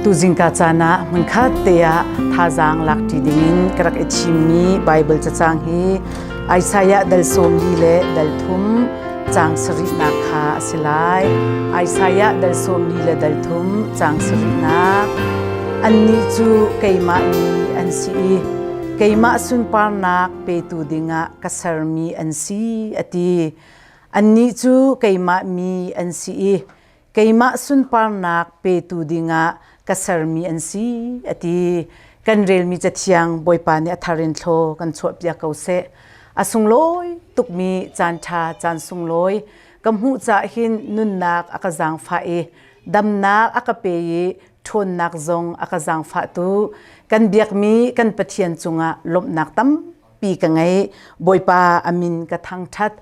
Tuzing ka caan ah hmunkhat te ah thazaang lakṭi dingin ka rak i thimmi Baibal cacang hi Isaiah dal sawmli le dal thum caang sarihnak kha a si lai. Isaiah dal sawmli le dal thum caang sarihnak Annih cu keimah mi an si i keimah sunparnak petu dingah ka sermi an si a ti. Annih cu keimah mi an si i keimah sunparnak petu dingah ka sermi an si a ti. Kan relmi cathiang Bawipa nih a thar in thlaw kan chuahpiak ko seh. A sunglawi tukmi caan ṭha caan sunglawi ka hmuh cah hin nunnak a ka zaangfah i damnak a ka pe i ṭhawnnak zong a ka zaangfah tu kan biakmi kan Pathian cungah lawmhnak tampi ka ngei. Bawipa amin ka thangṭhat.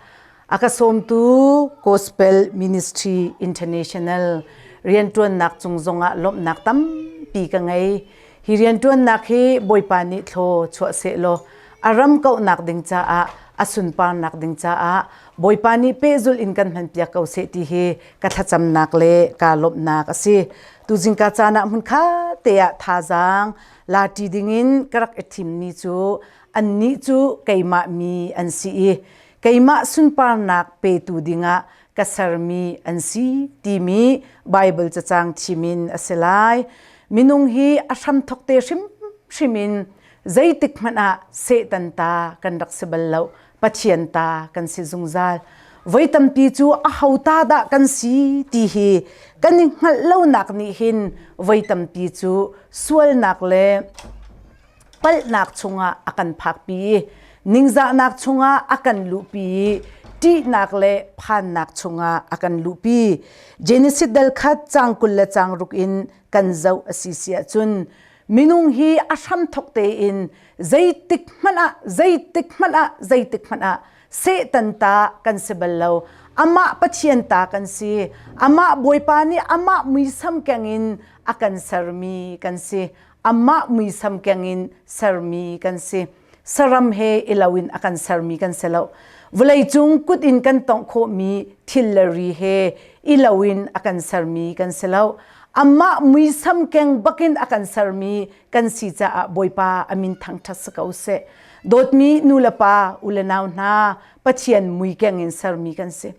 A ka sawmtu Gospel Ministry International rianṭuannak cung zongah lawmhnak tampi ka ngei. Hi rianṭuannak hi Bawipa nih thlaw chuah sehlaw a ram kauhnak ding caah a sunparnak ding caah Bawipa nih pehzulh in kan hmanpiak ko seh ti hi ka thlacamnak le kaa lawmhnak a si tuzing ka caan ah hmun kha te ah thazaang lati dingin ka rak i thimmi cu annih cu keimah mi an si i keimah sunparnak petu dingah ka sermi an si timi Baibal cacang thimin a si lai minung hi a hram thok te hrim hrim in zeitik hmanh ah Satan ta kan rak si bal lo pathian ta kan si zungzal voi tampi cu a hauta dah kan si ti hi kan i hngalh lonak nih hin voi tampi cu sualnak le palhnak chungah a kan phakpi ningzahnak chungah a kan luhpi ṭihnak le phannak chungah a kan luhpi Genesis dal khat cang kul le cang ruk in kan zoh a si si ahcun minung hi a hramthok tein zeitik hmanh ah zeitik hmanh ah zeitik hmanh ah Satan ta kan si bal lo amah Pathian ta kan si amah Bawipa nih amah muisam kengin a kan sermi kan si amah muisam kengin sermi kan si saram he ilo in a kan sermi kan si lo vawleicung kut in kan tongh khawhmi thil le ri he ilo in a kan sermi kan si lo amah muisam keng bakin a kan sermi kan si caah bawipa amin thangthat si ko se dawtmi nu le pa u le nau hna pathian mui keng in sermi kan si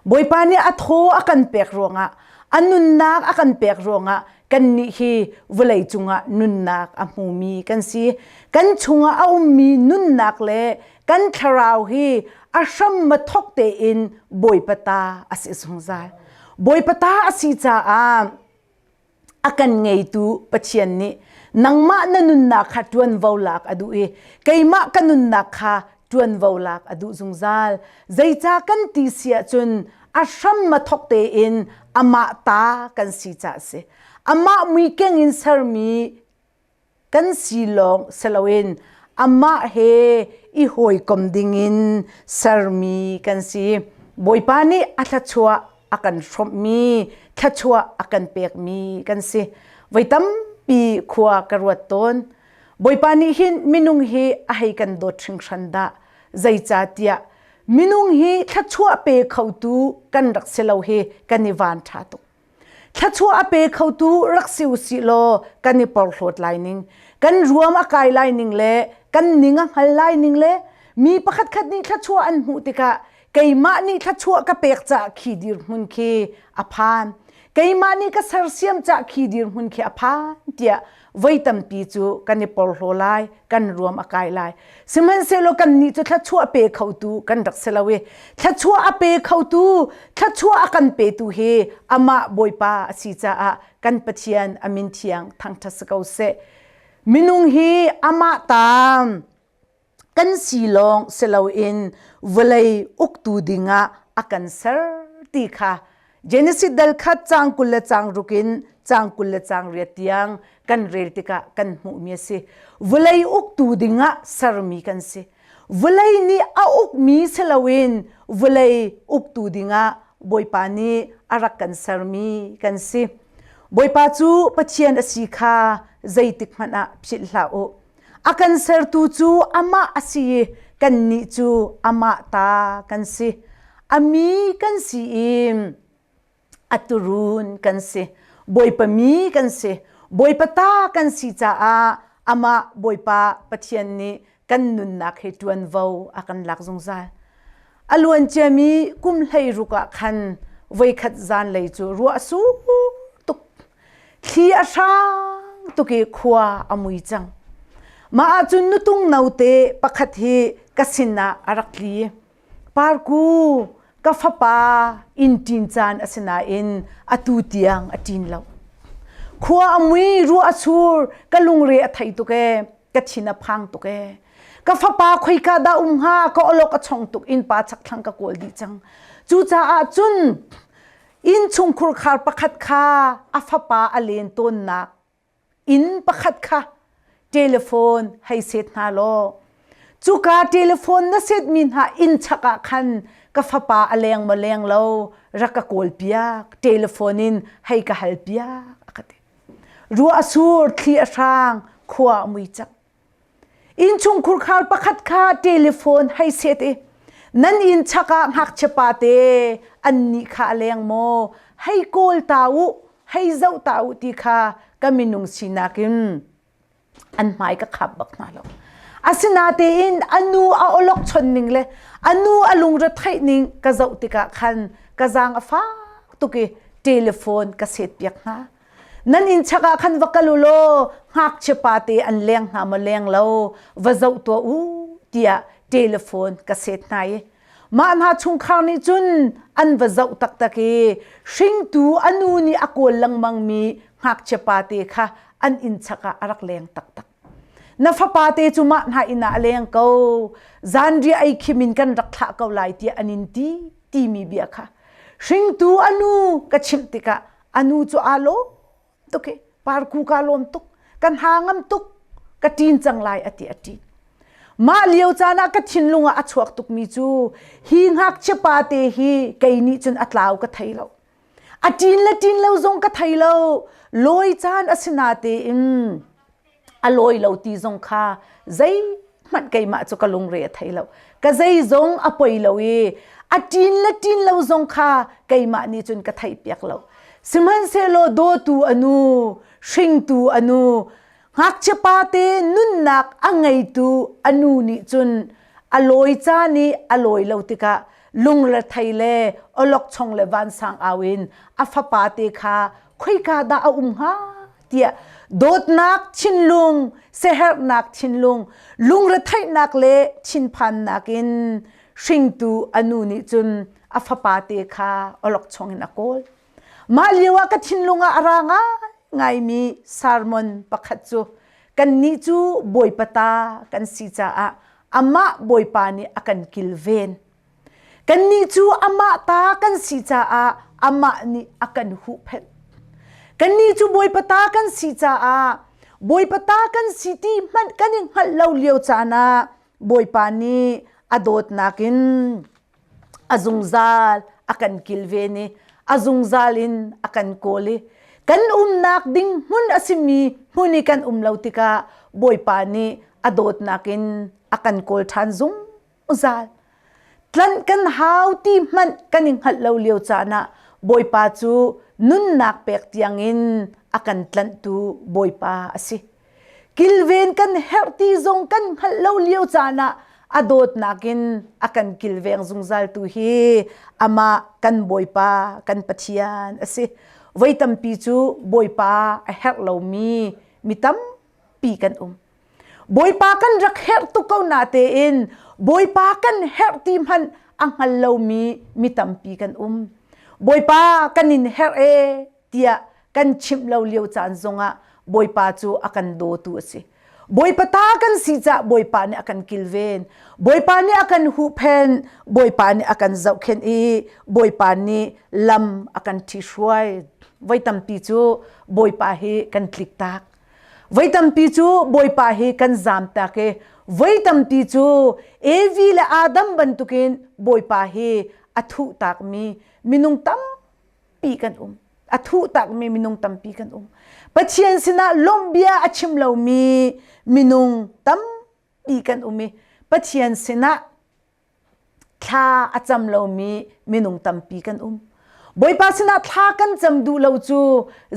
Bawipa nih a thaw a kan pek ruangah a nunnak a kan pek ruangah kannih hi vawlei cungah nunnak a hmumi kan si. Kan chungah a ummi nunnak le kan thlarau hi a hram ma thok tein Bawipa ta a si zungzal. Bawipa ta a si caah a kan ngeitu Pathian nih nangmah na nunnak kha ṭuanvo lak a duh i keimah ka nunnak kha ṭuanvo lak a duh zungzal. Zeicah kan ti si ahcun a hram ma thok tein amah ta kan si caah a si. Amah muikeng in sermi kan silawng siloin amah he i hawikom dingin sermi kan si. Bawipa nih a thluachuah a kan hrawmhmi, thluachuah a kan pekmi kan si. Voi tampi khua ka ruat tawn. Bawipa nih hin minung hi a hei kan dawt hringhran dah. Zeicahtiah minung hi thluachuah pe khotu kan rak si lo hi kan i van ṭha tuk. Thlachuah a pe khotu rak si usih law kan i porhlawt lai ning, kan ruam a kai lai ning le kan ning a hngal lai ning le mi pakhatkhat nih thluachuah an hmuh tikah keimah nih thluachuah ka pek caah khi dirhmun khi a phan. Keimah nih ka sersiam caah khi dirhmun khi a phan tiah voi tampi cu kan i porhlaw lai kan ruam a kai lai sihmanhsehlaw kannih cu thluachuah pe khotu kan rak si lo i thluachuah a pe khotu thluachuah a kan petu hi amah bawipa a si caah kan pathian a min thiang thangṭhat si ko seh minung hi amah ta kan silawng siloin vawlei uktu dingah a kan ser ti kha Genesis dal khat cang kul le cang ruk in cang kul le cang riat tiang kan rel tikah kan hmuhmi a si vawlei uktu dingah sermi kan si vawlei nih a ukmi siloin vawlei uktu dingah Bawipa nih a rak kan sermi kan si Bawipa cu Pathian a si kha zeitik hmanh ah philh hlah u a kan sertu cu amah a si i kannih cu amah ta kan si. A mi kan si i a turun kan si. Bawipa mi kan si. Bawipa ta kan si caah amah Bawipa Pathian nih kan nunnak he ṭuanvo a kan lak zungzal. A luanciami kum hlei ruk ah khan voikhat zanlei cu ruah a sur tuk Thli a hrang tuk i khua a mui cang. Mah ahcun nutung note pakhat hi ka sinah a rak tli. Parku, ka fapa inn ṭin caan a si nain atu tiang a ṭin lo. Khua a mui, ruah a sur, ka lungre a thei tuk ee, ka thin a phang tuk ee. Ka fapa khoika dah um hnga, ka awlok a chong tuk in pa chakthlang ka kawl dih cang. Cucaah cun innchungkhur khar pakhat kha a fapa a len tawnnak inn pakhat kha telephone hei set hna law cuka telephone na setmi hna inn chak ah khan ka fapa a leng maw leng lo rak ka kawl piak telephone in hei ka hal piak a ka ti ruah a sur thli a hrang khua a mui chak Innchungkhur khar pakhat kha telephone hei set i nan inn chak ah ngakchia pate an nih kha a leng maw hei kawl ta u hei zoh ta u ti kha ka minung sinak in an hmai ka khap bak hna lo asinatein a nu a olokchon ning le a nu a lungre theih ning ka zoh tikah khan ka zaang a fak tuk i telephone ka set piak hna nan in chak ah khan va kal u law ngakchia pate an leng hna maw leng lo va zoh tuah u tiah telephone ka set hna i mah hna chungkhar nih cun an va zoh taktak i hringtu a nu nih a kawl lengmang mi ngakchia pate kha an in chak ah a rak leng taktak na fapa te cu mah hna inn ah a leng ko zanria ei khim in kan rak thlah ko lai tiah an in ti timi bia kha hringtu anu ka chimh tikah anu cu aa lawm tuk i parku kaa lawm tuk ka hna ngam tuk ka ṭin cang lai a ti a ṭin mah lio caan ah ka thinlung ah a chuak tukmi cu hi ngakchia pate hi kei nih cun a tlau ka thei lo a ṭin le ṭin lo zong ka thei lo lawi caan a si na tein a lawi lo ti zong kha zeihmanh keimah cu ka lungre a thei lo ka zei zong a poi lo i a ṭin le ṭin lo zong kha keimah nih cun ka theih piak lo sihmanhsehlaw dawtu anu hringtu anu ngakchia pate nunnak a ngeitu anu nih cun a lawi caan i a lawi lo tikah lungre thei le olok chong le vansang au in a fapa te kha khoika dah a um hnga tiah dawtnak thinlung seherhnak thinlung lungretheihnak le thinphannak in hringtu anu nih cun a fapa te kha olok chungin a kawl mah lio ah ka thinlung ah a ra ngai mi sermon pakhat cu kannih cu bawipa ta kan si caah amah bawipa nih a kan kilven Kannih cu amah ta kan si caah amah nih a kan huhphenh. Kannih cu Bawipa ta kan si caah Bawipa ta kan si ti hmanh kan i hngalh lo lio caan ah Bawipa nih a dawtnak in a zungzal a kan kilven i a zungzal in a kan kawl i kan umnak ding hmun a simi hmun i kan um lo tikah Bawipa nih a dawtnak in a kan kawl ṭhan zung. uzal tlan kan hau ti hmanh kan i hngalh lo lio caan ah Bawipa cu nunnak pek tiangin a kan tlanhtu Bawipa a si. Kilven kan herh ti zong kan hngalh lo lio caan ah a dawtnak in a kan kilveng zungzal tu hi amah kan Bawipa kan Pathian a si. Voi tampi cu Bawipa a herh lomi mi tampi kan um. Bawipa kan rak herh tuk ko na tein Bawipa kan herh ti hmanh a hngal lomi mi tampi kan um. Bawipa kan in herh e tiah kan chimh lo lio caan zongah Bawipa cu a kan dawtu a si. Bawipa ta kan si cah Bawipa nih a kan kilven. Bawipa nih a kan huhphen, Bawipa nih a kan zohkhen i Bawipa nih lam a kan ṭhi hruai. Voi tampi cu Bawipa hi kan tlik tak. Voi tampi cu Bawipa hi kan zamtak i voi tampi cu Evi le Adam bantukin Bawipa hi a thuhtak mi minung tampi kan um. A thuhtak mi minung tampi kan um. Pathian sinah lawmhbia a chim lomi minung tampi kan um i Pathian sinah thla a cam lomi minung tampi kan um. Bawipa sinah thla kan cam duh lo cu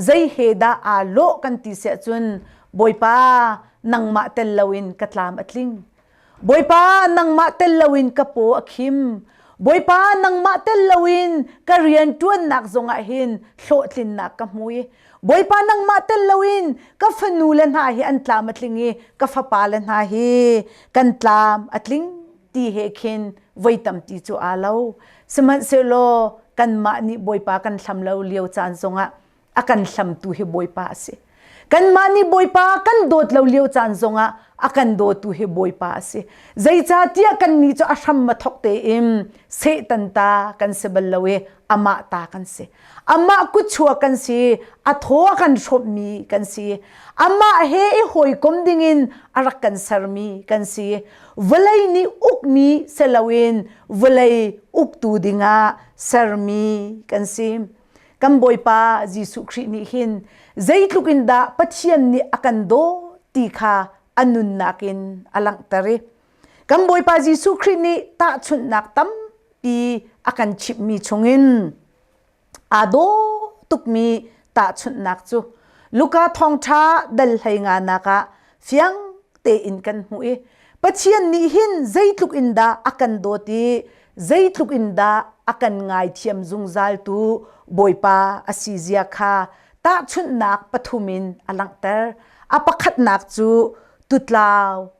zei he dah aa lawh kan ti siah cun Bawipa nangmah tel loin ka tlam a tling. Bawipa nangmah tel loin ka paw a khim. Bawipa nangmah tel loin ka riantuannak zongah hin hlawhtlinnak ka hmui. Bawipa nangmah tel loin ka fanu le hna hi an tlam a tling i ka fapa le hna hi kan tlam a tling ti he khin voi tamti cu aa lo. Sihmanhsehlaw kanmah nih Bawipa kan hlam lo lio caan zongah a kan hlamtu hi Bawipa a si. Kanmah nih Bawipa kan dawt lo lio caan zongah a kan dawtu hi Bawipa a si. Zeicahtiah kannih cu a hram ma thok tein Satan ta kan si bal lo i amah ta kan si amah kuchua kan si a thaw kan hrommi kan si amah he i hawikom dingin a rak kan sermi kan si vawlei nih ukmi seloin vawlei uktu dingah sermi kan si kan bawipa Jesuh Khrih nih hin zeitluk in dah Pathian nih a kan daw ti kha a nunnak in a langhter i kan Bawipa Jesuh Khrih nih tahchunhnak tampi a kan chimhmi chungin aa daw tukmi tahchunhnak cu Luka thawngṭha dal hlei nganak ah fiang tein kan hmuh i Pathian nih hin zeitluk in dah a kan dawt i zeitluk in dah a kan ngaithiam zungzal tu Bawipa a si zia kha tahchunhnak pathum in a langhter. A pakhatnak cu tutlau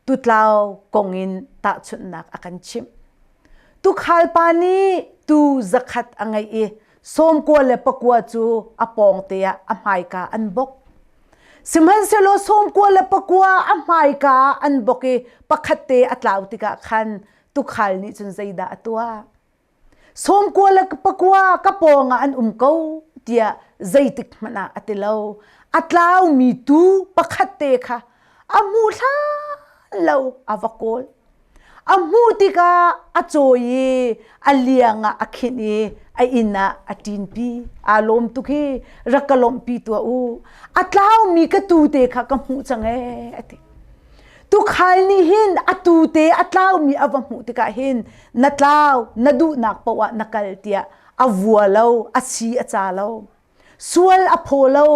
Tutlau kong in tahchunhnak a kan chimh. Tukhal pa nih tuu zakhat a ngei i sawmkua le pakua cu a pawngte ah a hmaika an bok. Sihmanhsehlaw sawmkua le pakua a hmaika ah an bok i pakhatte a tlau tikah khan tukhal nih cun zeidah a tuah? Sawmkua le pakua ka pawng ah an um ko tiah zeitik hmanh ah a ti lo. A tlaumi tu pakhat te kha a hmu hlan lo a va kawl. A hmuh tikah a cawi i a liang ah a khinh i a inn ah a ṭinpi. Aa lawm tuk hi rak ka lawmhpi tuah u. A tlaumi ka tu te kha ka hmuh cang ee, a ti. Tukhal nih hin atu te a tlaumi a va hmuh tikah hin na tlau na duhnak paoh ah na kal tiah a vua lo a si a ca lo sual a phaw lo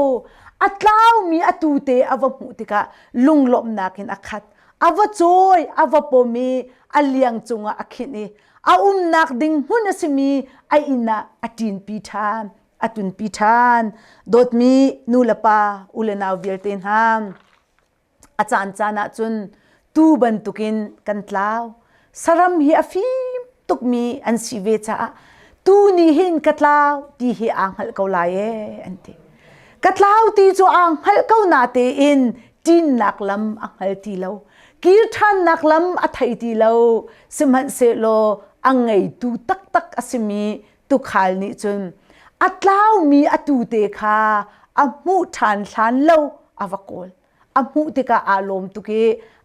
a tlaumi atu te a va hmuh tikah lunglawmnak in a khat a va cawi a va pom i a liang cungah a khinh i a umnak ding hmun a simi a inn ah a ṭinpi ṭhan a tunpi ṭhan dawtmi nu le pa u le nau vialte hna a caancaan ahcun tuu bantukin kan tlau. Saram hi a fim tukmi an si ve caah tuu nih hin ka tlau ti hi aa hngalh ko lai ee an ti. Ka tlau ti cu aa hngalh ko natein ṭinnak lam a hngal ti lo. Kir ṭhannak lam a thei ti lo. Sihmanhsehlaw a ngeitu taktak a simi tukhal nih cun a tlaumi a tute kha a hmuh ṭhan hlan lo a va kawl a hmuh tikah aa lawm tuk i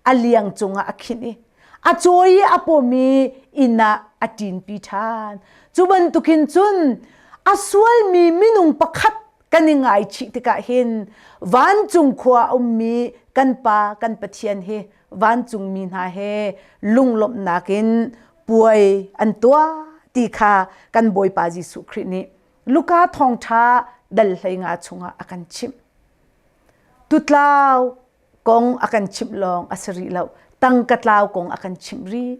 a liang cungah a khinh i a cawi i a pom i inn ah a ṭinpi ṭhan cu bantukin cun a sualmi minung pakhat kan i ngaichih tikah hin vancung khua a ummi kan Pa kan Pathian hi vancungmi hna he lunglawmhnak in puai an tuah ti kha kan Bawipa Jesuh Khrih nih Luka thawngṭha dal hleinga chungah a kan chimh. Tutlau kong a kan chimh lawng a si rih lo. Tang ka tlau kong a kan chimh rih.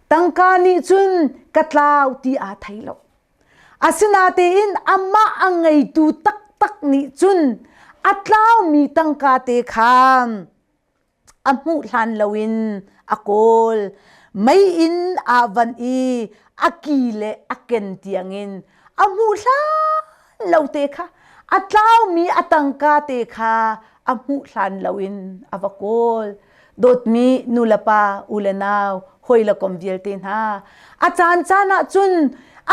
Tangka nih cun ka tlau ti aa thei lo. Asinatein amah a ngeitu taktak nih cun a tlaumi tangka te khan a hmuh hlan loin a kawl mei in aa van i a ki le a ken tiangin a hmuh hlan lo te kha a tlaumi a tangka te kha a hmuh hlan loin a va kawl dawtmi nulepa u le nau hawile kom vialte hna a caan caan ah cun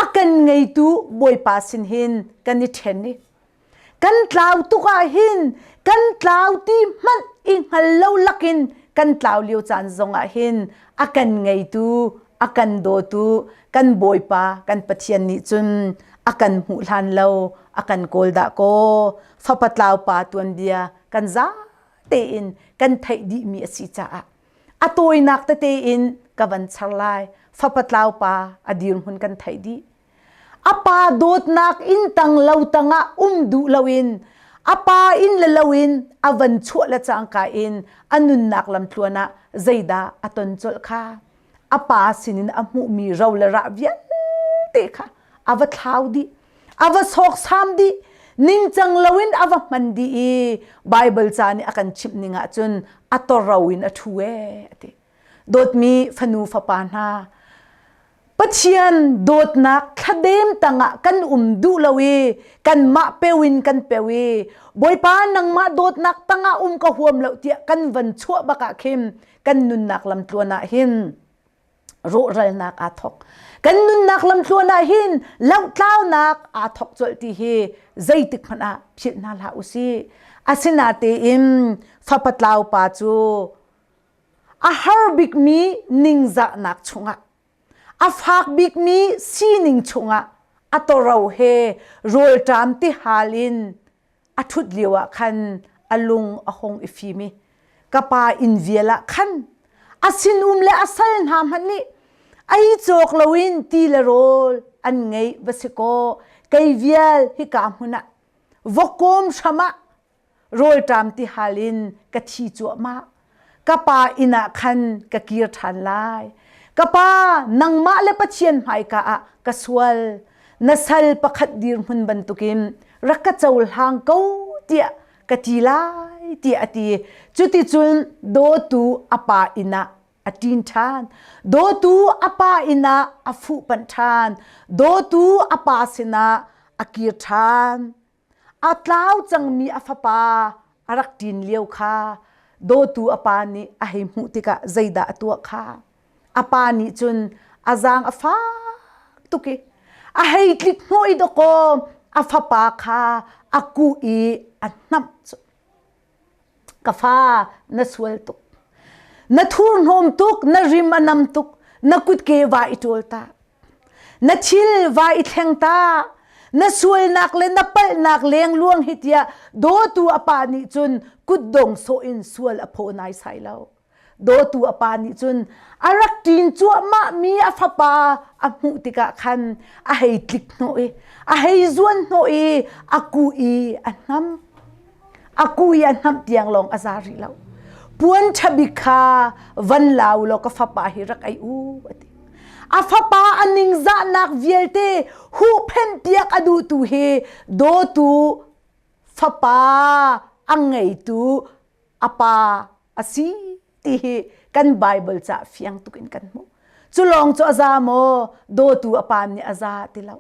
a kan ngeitu bawipa sin hin kan i ṭhen i kan tlau tuk ahhin kan tlau ti hmanh i hngal lo lakin kan tlau lio caan zong ahhin a kan ngeitu a kan dawtu kan bawipa kan pathian nih cun a kan hmuh hlan lo a kan kawl dah kaw fapa tlau pa tuanbia kan za tein kan theih dihmi a si caah a tawinak tete in ka van char lai fapa tlau pa a dir hun kan theih dih A pa dawtnak inn tang lo tangah um duh loin a pa inn le loin a van chuah le cangka in a nunnak lamtluan ah zeidah a ton colh kha a pa sinin a hmuhmi ro le rah vialte kha a va thlau dih a va sawksam dih ningcang loin a va hman dih i Baibal ca nih a kan chimh ning ahcun a toro in a ṭhu ee a ti. Dawtmi fanu fapa hna, Pathian dawtnak thladem tangah kan um duh lo i kanmah peu in kan peu i Bawipa nangmah dawtnak tangah um ka huam lo tiah kan van chuah bakah khin kan nunnak lamtluan ah hin rawhralnak aa thawk. Kan nunnak lamtluan ah hin lohtlaunak aa thawk colh ti hi zeitik hmanh ah philh hna hlah u si. Asinatein fapatlau pa cu A har bikmi ningzahnak chungah, a fak bikmi sining chungah a tawro he rawlṭam tihal in a ṭhut lio ah khan a lung a hung i fim i ka pa inn vial ah khan a sinum le a sal hna hmanh nih ei cawk loin ti le rawl an ngei va si kaw kei vial hika hmun ah vokawm hram ah rawlṭam tihal in ka thi cuahmah ka pa inn ah khan ka kir ṭhan lai ka pa nangmah le pathian hmaika ah ka sual na sal pakhat dirhmun bantukin rak ka cohlang ko tiah ka ti lai tiah a ti cuticun dawtu a pa inn ah a ṭin ṭhan dawtu a pa inn ah a fuhpanh ṭhan dawtu a pa sinah a kir ṭhan a tlau cangmi a fapa a rak ṭin lio kha dawtu a pa nih a hei hmuh tikah zeidah a tuah kha a pa nih cun a zaang a fak tuk i a hei tlik hnawh i dawkaw a fapa kha a kuh i a hnamh cu ka fa na sual tuk na thurhnawm tuk na rim a nam tuk na kutke va i ṭawl ta na thil va i thleng ta na sualnak le na palhnak lengluang hi tiah dawtu a pa nih cun kutdong sawh in sual a phaw naisai lo dawtu a pa nih cun a rak ṭin cuahmah mi a fapa a hmuh tikah khan a hei tlik hnawh i a hei zuan hnawh i a ku i a hnam a ku i a hnamh tiang lawng a za rih lo puan ṭha bik kha van la u law ka fapa hi rak ei u a ti a fapa a ningzahnak vialte huhphenh piak a duhtu hi dawtu fapa a ngeitu a pa a si ti hi kan Bible cah fiang tuk in kan hmuh. Cu lawng cu a za maw dawtu a pa nih a za ti lo.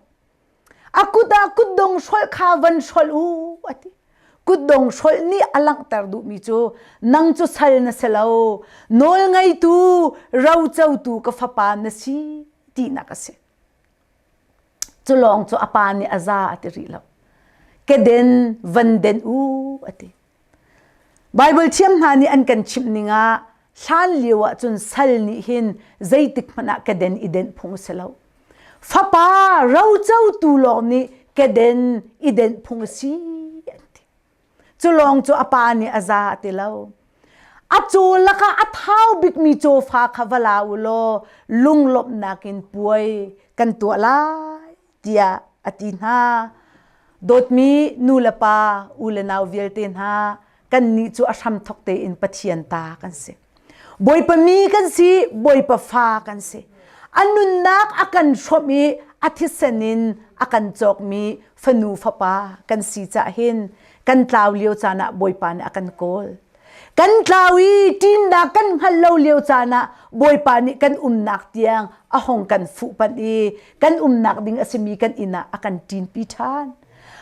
A kut ah kutdong hrol kha van hrol u a ti. Kutdong hrol nih a langhter duhmi cu nang cu sal na si lo nawl ngeitu rocotu ka fapa na si tinak a si. Cu lawng cu a pa nih a za a ti rih lo. Keden van den u a ti. Baibal thiam hna nih an kan chimh ning ah hlan lio ah cun sal nih hin zeitik hmanh ah keden i denh phung si lo. Fapa rocotu lawng nih keden i denh phung si an ti. Cu lawng cu a pa nih a za ti lo. A cu laka a thau bikmi cawfa kha va la u law lunglawmhnak in puai kan tuah lai tiah a ti hna. Dawtmi nu le pa, u le nau vialte hna, kannih cu a hramthok tein Pathian ta kan si. Bawipa mi kan si, Bawipa fa kan si. A nunnak a kan hrawmh i a thisen in a kan cawkmi fanu fapa kan si cah hin kan tlau lio caan ah Bawipa nih a kan kawl. Kan tlau i ṭinnak kan hngal lo lio caan ah Bawipa nih kan umnak tiang a hong kan fuhpanh i kan umnak ding a simi kan inn ah a kan ṭinpi ṭhan.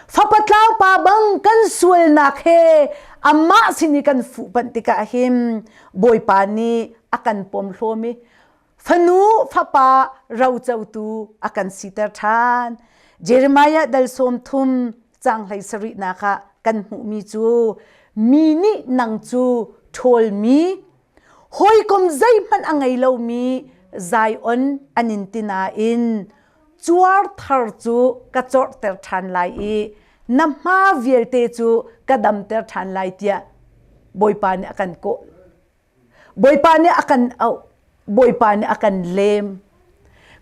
Fapa tlaupa bang kan sualnak he amah sin i kan fuhpanh tikah hin Bawipa nih a kan pom hlawm i fanu fapa rocotu a kan siter ṭhan. Jeremiah dal sawm thum cang hlei sarihnak ah kan hmuhmi cu mi nih nang cu ṭhawlmi hawikom zeihmanh a ngei lomi Zion an in ti nain cuar thar cu ka corhter ṭhan lai i na hma vialte cu ka damter ṭhan lai tiah Bawipa nih a kan kawh. Bawipa nih a kan auh. Bawipa nih a kan lem.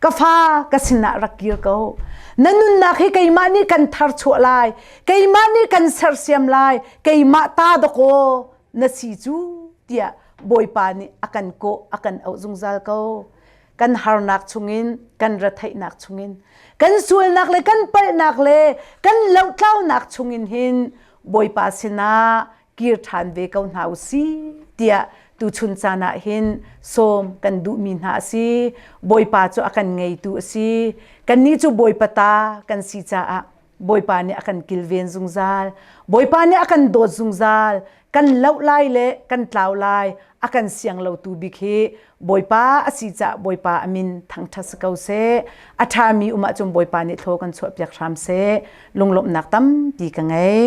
Ka fa ka sinah rak kir ko. Na nunnak hi keimah nih kan thar chuah lai. Keimah nih kan sersiam lai. Keimah ta dawkaw na si cu tiah Bawipa nih a kan kawh a kan auh zungzal ko kan harnak chungin kan retheihnak chungin kan sualnak le kan palhnak le kan lotlaunak chungin hin Bawipa sinah kir ṭhan ve ko hna u si tiah tuchun caan ah hin sawm kan duhmi hna a si Bawipa cu a kan ngeitu a si kannih cu Bawipa ta kan si caah Bawipa nih a kan kilven zungzal. Bawipa nih a kan dawt zungzal. Kan loh lai le kan tlau lai a kan siang lotu bik hi Bawipa a si caah Bawipa a min thangṭhat si ko seh. A ṭhami um ahcun Bawipa nih thlaw kan chuahpiak hram seh. Lunglawmhnak tampi ka ngei.